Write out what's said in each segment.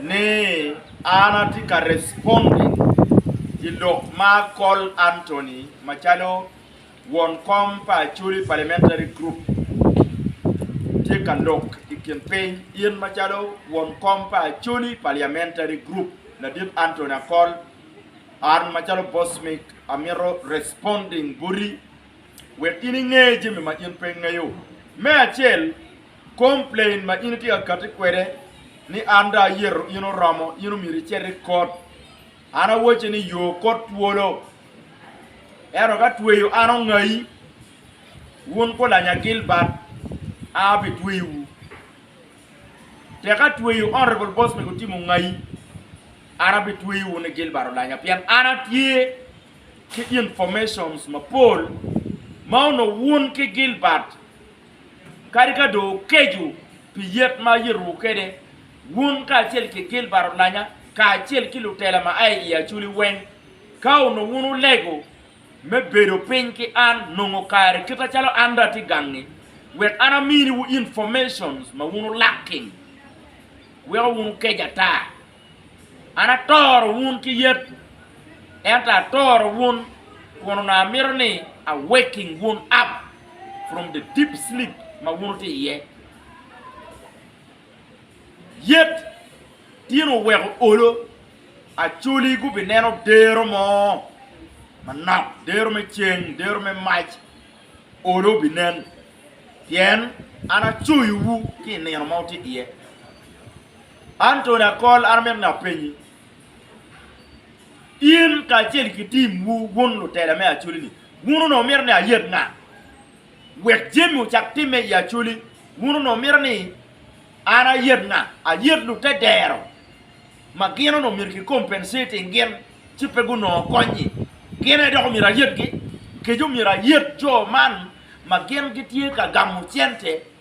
ni an atye ka responding ki lok ma Col Anthony macalo won kom pa Acholi Parliamentary Group tye ka lok i kin piny. In macalo won kom pa Acholi Parliamentary Group, Ladit Anthony Akol, an macalo Bosmic amito responding boti wek in inge jami ma in pe ingeyo. Me acel, Complain ma in itye ka kati kwede ni an dong ayeto in oromo, in omyero icit i kot. An awacci ni yo kot twolo. Ento ka tweyo an ongayi, wun gulanya Gilbert, an abitweyowu. Tek ka tweyo Honorable Bosmic Otim ongayi, an abitweyo wun i Gilbert olanya pien an atye ki informations mapol ma onongo wun ki Gilbert Kadi ka dong wukeco pi yet ma ayitowu kwede, wun kacel ki Gilbert olanya kacel ki lutela ma aye i Aculi weng, ka onongo wun wulego me bedo piny ki an nongo kare kite calo an dong atye gang-ngi, wek an aminiwu informations ma wun wulak-ki, weko wun wukec ata. An atoro wun ki yet, ento atoro wun kun onongo amito ni a waking wun up from the deep sleep ma wun wutye iye. Yet tyen oweko olo, acoli gubineno dero mo manok, dero me ceng, dero me mac, olo obinen, pien an acoyowu ki i nino ma wutye iye. An Tony Akol an amito ni apenyi, in kacel ki timwu wun lutela me Acholi-ni, wun onongo wumito ni ayet nga wek jami ocak timme i Acholi? Wun onongo wumito ni an ayet nga? Ayet lute dero ma gin onongo myero ki compensating gin ci pe gunongo konyi. Gin aye dok omyero ayetgi? Kec omyero ayet jo man ma gin gitye ka gamo cente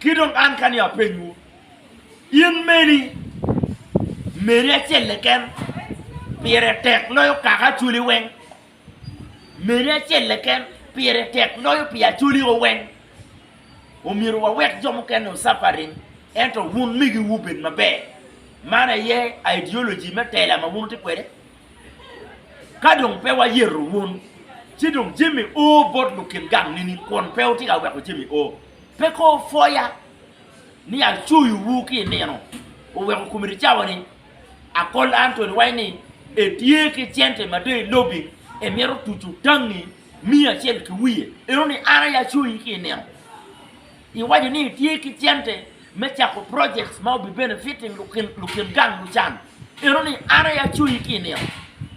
Ki dong an kani apenywu, in meni, meri acel keken pire tek loyo kaka acwali weng? Meri acel keken pire tek loyo pi acwali o weng? Omyero wawek jo mukene ocapa ring, ento wun migi wu bed maber. Man aye ideology me tela ma wun wutye kwede. Ka dong pe wayeto wun, ci dong jami o bot lukin gang nining kun pe wutye ka weko jami o? Pe ko opwoya ni acoyo wu ki inino oweko committee cawa ni akol Anthony waco ni etye ki cente ma dong ilobing emito tucu tangi miyo acel ki wiye eno ni an aye acoyi ki inino iwaco ni itye ki cente me cako projects ma obi benefiting lukin gang lucan Eno ni an aye acoyi ki i nino,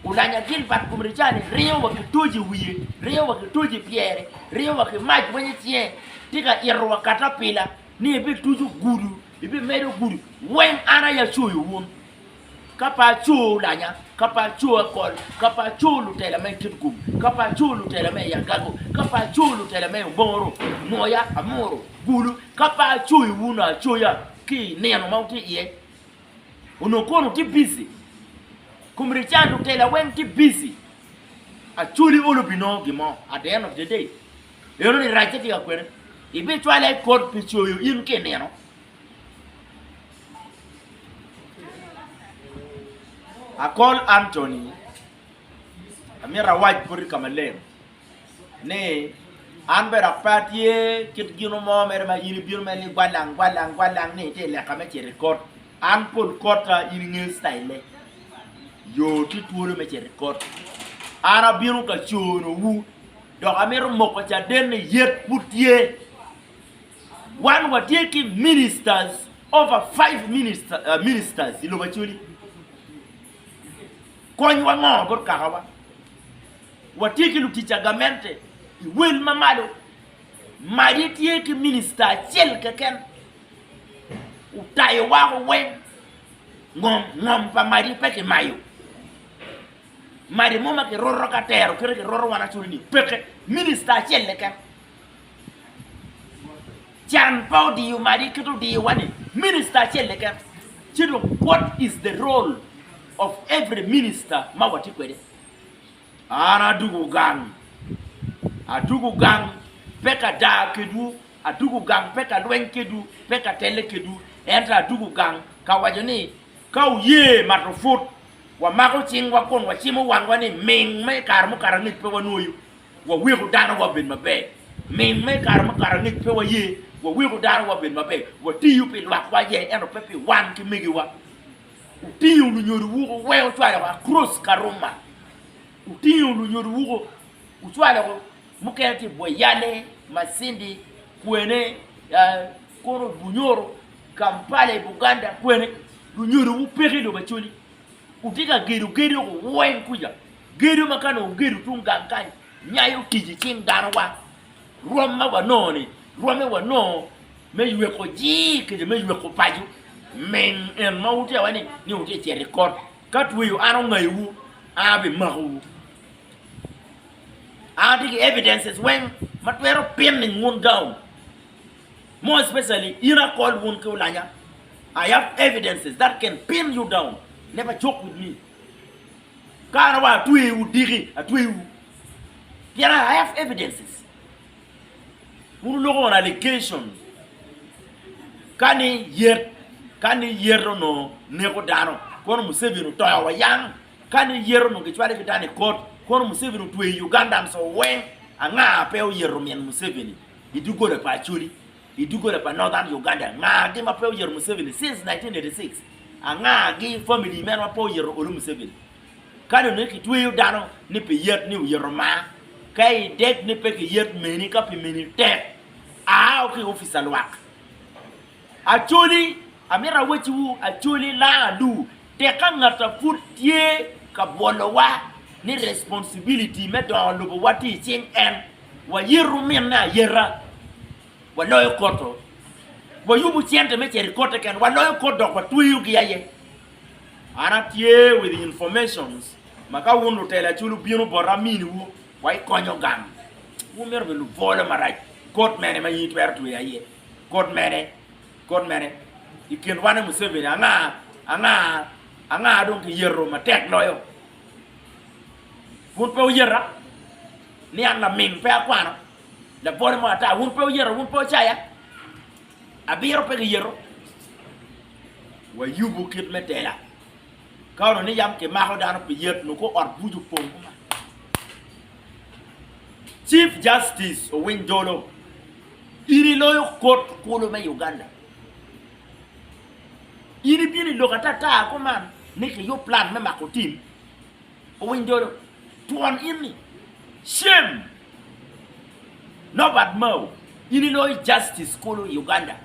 olanya Gilbat kom Ricane, ringo wa ki toji i wiye, ringo wa ki toji i pyere, ringo wa ki mac wenyo i cinge, tye ka ito wa katapila, ni ebituco gudo, ebimedo gudo, weng an aye acoyo wun, ka pe aco olanya, ka pe aco akol, ka pe aco lutela me Kitgum, ka pe aco lutela me i agago, ka pe aco lutela me i omoro, moya, amoro, gulu, ka pe acoyo wun acoya ki i nino ma wutye iye. Onongo kono tye bici, kom Rican Rutela weng tye bici. Acholi olo pi nongo gin mo at the end of the day. Eno ni racce tye ka kwene. Ibicwale i kot pi coyo in ki i nino. Akol Anthony, amito awac boti ka maleng. ni, An bene ape atye kit ginu mo mere ma in ibino mere ni gwalang gwalang gwalang ni iti leka me cito ikot. An pol kota in inge citayille. Yo ti twolo me cito ikot. An abino ka cono wu dok amito moko caden ni yet pud tye. Wan watye ki ministers over five minister, uh, ministers i lobo acoli. Konywa ngo bot kakawa? Watye ki lutic a gamente i wel ma malo. Maje tye ki minista acel keken. Otayo wako weng. Ngom ngom pa maje pe ki mayo. Maje mo ma ki roto ka tero kite ki roto wan acoli ni peke. Minista acel keken. Can pa odiyo maje kite odiyo wa ni minista acel keken. Ci dong what is the role of every minister ma watye kwede? An adugo gang, adugo gang, pe ka daa kedwu, adugo gang pe ka lweny kedwu, pe ka telle kedwu, ento adugo gang ka waco ni, Ka wuye mato put, wamako cingwa kun wacimo wangwa ni ming ma i kare mukato angec pe wanwoyo, waweko dano wabed maber. Ming ma i kare mukato angec pe waye, waweko dano wabed maber. Watiyo pi lwakwa aye, ento pe pi wan ki megiwa. Otingo lunyodo wuko weko cwalo ko across ka ruma otingo lunyodo wuko ocwalo ko mukene tye bwoi yale, masindi, kwene, kono bunyoro, kampala i buganda kwene lunyodo wu peke lobo acoli wutye ka gedo gedo ko weng kuca gedo ma ka nongo ogedo tung gang kany nyayo tic icing dano wa. Rwom ma wanongo-ni rwomme wanongo me yweko jir kede me yweko paco. Ming en ma wutye awene ni wutye cito i kot, ka tweyo an ongayowu, an abimakowu. An atye ki evidences weng ma twero pinning wun down. More especially in akol wun ki olanya, I have evidences that can pin you down. Never joke with me. Ka an awaco atweyowu diki, atweyowu. Pien I have evidences. Wun wuloko on allegations ka ni yet ka ni yet onongo neko dano kono Museveni otoyo wa yang, ka ni yet onongo kicwale ki dano i kot kono Museveni otweyo Ugandans o weng, anga pe oyero min Museveni i doggola pa Acholi, i doggola pa Northern Uganda anga gi ma pe oyero Museveni since 1986, anga gi family meno ma pe oyero olo Museveni. Ka dong ni kitweyo dano ni pi yet ni oyito mar, ka idek ni pe kiyet meni ka pi meni tek, ao ki i opic a lwak. Acholi, amito awacciwu, acholi, laa adu, tek ka ngat a pud tye ka bwolowa ni responsibility me dongo lobowa tye i cing en, wayit ruminne ayeta. Waloyo koto, wayubo cente me cito i kot te ken, waloyo kot dok watweyo gi aye. An atye with the informations ma ka wun lutelo aculu wubino bota amini wu wa ikonyo gang, wun myero be lubolo marac, kot mene ma in itwero tweyo aye, kot mene, kot mene, i kin wan e Museveni anga, anga, anga dong ki yeto matek loyo? Wun pe wuyeta ni an laming pe akwano? Lapore mo ata, wun pe wuyeto, wun pe wucaya, abiro pe giyeto. Wayubu kit me tela, ka onongo ni yam kimako dano pi yet, nongo kor ot buc opong koma. Chief Justice Owiny Dollo, in iloyo Kot kulu me Uganda. In ibino i lok ata ata kuman ni kiyub plan me mako tim. Owiny dolo twon inni shame Norbert Mao in iloyo justice kulu i Uganda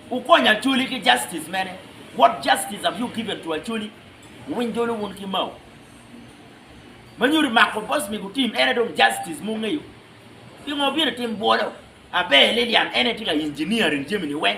wukonyo Acholi ki justice mene what justice have you given to Acholi Owiny dolo wun ki Mao manyodi mako boss me gutim ene dong justice mungeyo pingo wubino itim bwolo Aber Lilian ene tye ka engineering jami ni weng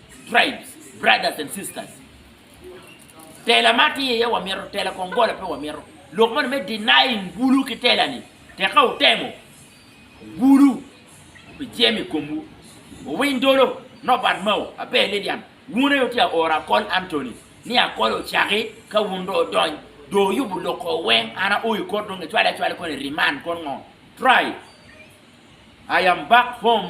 Tribes, brothers and sisters. Tela ma tye iye wamito, tela kong gola pe wamito. Lok moni me denying bulu ki tela ni, tek ka wutemo, bulu pi jem i komwu. Wuwiny dolo, Nobat Mao, Abe Lilian, wun aye wutye aoro Akol Anthony, ni Akol ocaki ka wun do odony, do wuyubu lok ko weng, an ao i kot dong kicwale acwala kono i remand kono ngo? Try, I am back home.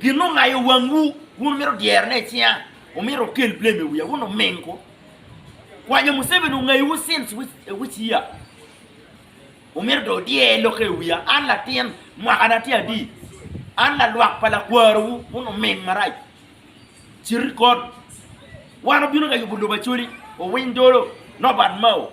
Gin ma ongayo wangwu, wun mito dyero ne icinga, omito okel blame i wiya, wun omingo kwanyo Museveni ongayowu since which year? Omito dong odyer lokke i wiya, an latin mwaka na tye adi, an lalwak pa lakwarowu, wun oming marac, cit ikot, wan obino ka yubo lobo Acholi, owiny dolo, Norbert Mao.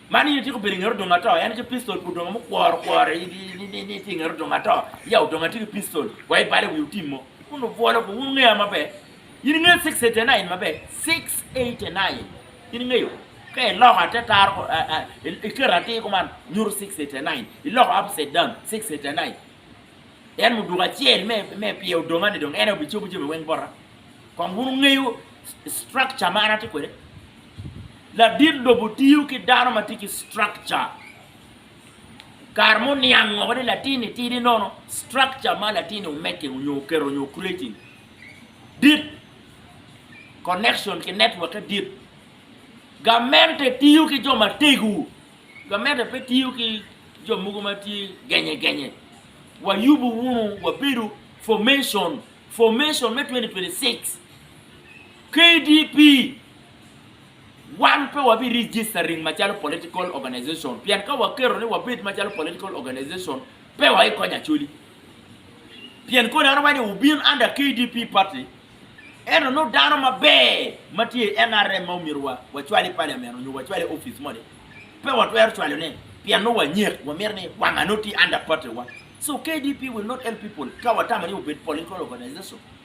Man in ityeko bedo i nget odongo ato, en ki pistol pi odongo mukworo okworo ni itye i nget odongo ato, ya odongo atye ki pistol, wa ibale i wi otim mo. Wun obwolo ko, wun wungeya maber. In ingeyo six eighty nine maber, six eighty nine in ingeyo. Ka iloko ate taro, iketo atir kuman nyuto six eighty nine, iloko upside down six eighty nine. En muduku acel me pye odonga ni dong en aye obicobo jami weng bota. Kong wun wungeyo structure ma an atye kwede. Ladit lobo tiyo ki dano ma tye ki structure. Kare mo niang ngo ni latinni tidi nono structure ma latinni omeke onyo oketo onyo creating dit connection ki network e dit. Gamente tiyo ki jo mategu. Gamente pe tiyo ki jo mogo ma tye genye genye. Wayubu wunu wabedo formation formation me 2026 KDP. Wan pe wabi registering macalo political organization pien ka waketo ni wabed macalo political organization pe wa ikonyo Acholi. Pien koni anongo ni wubin under KDP party ento nongo dano maber ma tye i NRM ma omyero wa wacwal i parliament onyo wacwal i office mo ni pe watwero cwalo ne pien nongo wanyek wamito ni wanga nongo tye under party wa. So KDP will not help people ka watamo ni obed political organization.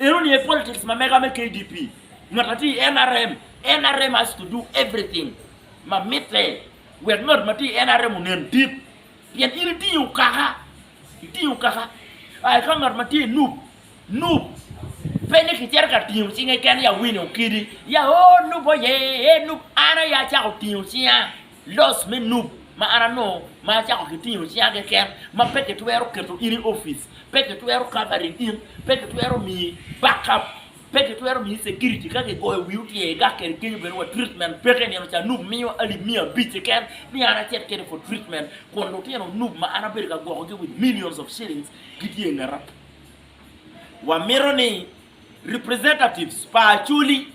Eno ni e politics ma mega me KDP. Ngat atye i nrm, nrm has to do everything ma mitte wek ngat ma tye i nrm onen dit. Pien in itingo okaka, itingo okaka. A eka ngat ma tye i nup, nup pe ni kicito ka tingo cinge kene ya wine okidi, ya oh nup oye, eh nup. An aye acako tingo cinga. Loc me Nup ma an anongo ma acako ki tingo cinga keken ma pe ki twero keto in i office, pe ki twero covering in, pe ki twero miyi back up, pe ki twero miyi security ka ki goyo wii otyer i gak keri kenyo bene wa treatment peke nino ca Nup miyo alip miya abic keken ni an acit kede for treatment kun lutino Nup ma an abedo ka gwoko gi with millions of shillings gitye ingeta wa mito ni Representatives pa Acholi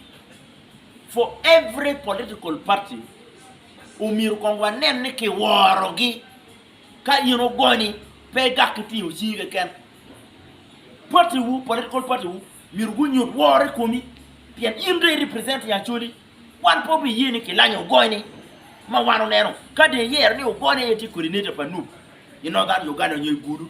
for every political party omyero kong wanen ni kiworogi ka in ogony pe gak ki tingo cingi keken. Party wu, political party wu myero gunyut woro i komi pien in dong i represent i Acholi. Wan pe wabiye ni kilanyo ogony ni ma wan oneno ka dong iyero ni ogony aye tye coordinator pa Nup i Northern Uganda nyo i Gulu.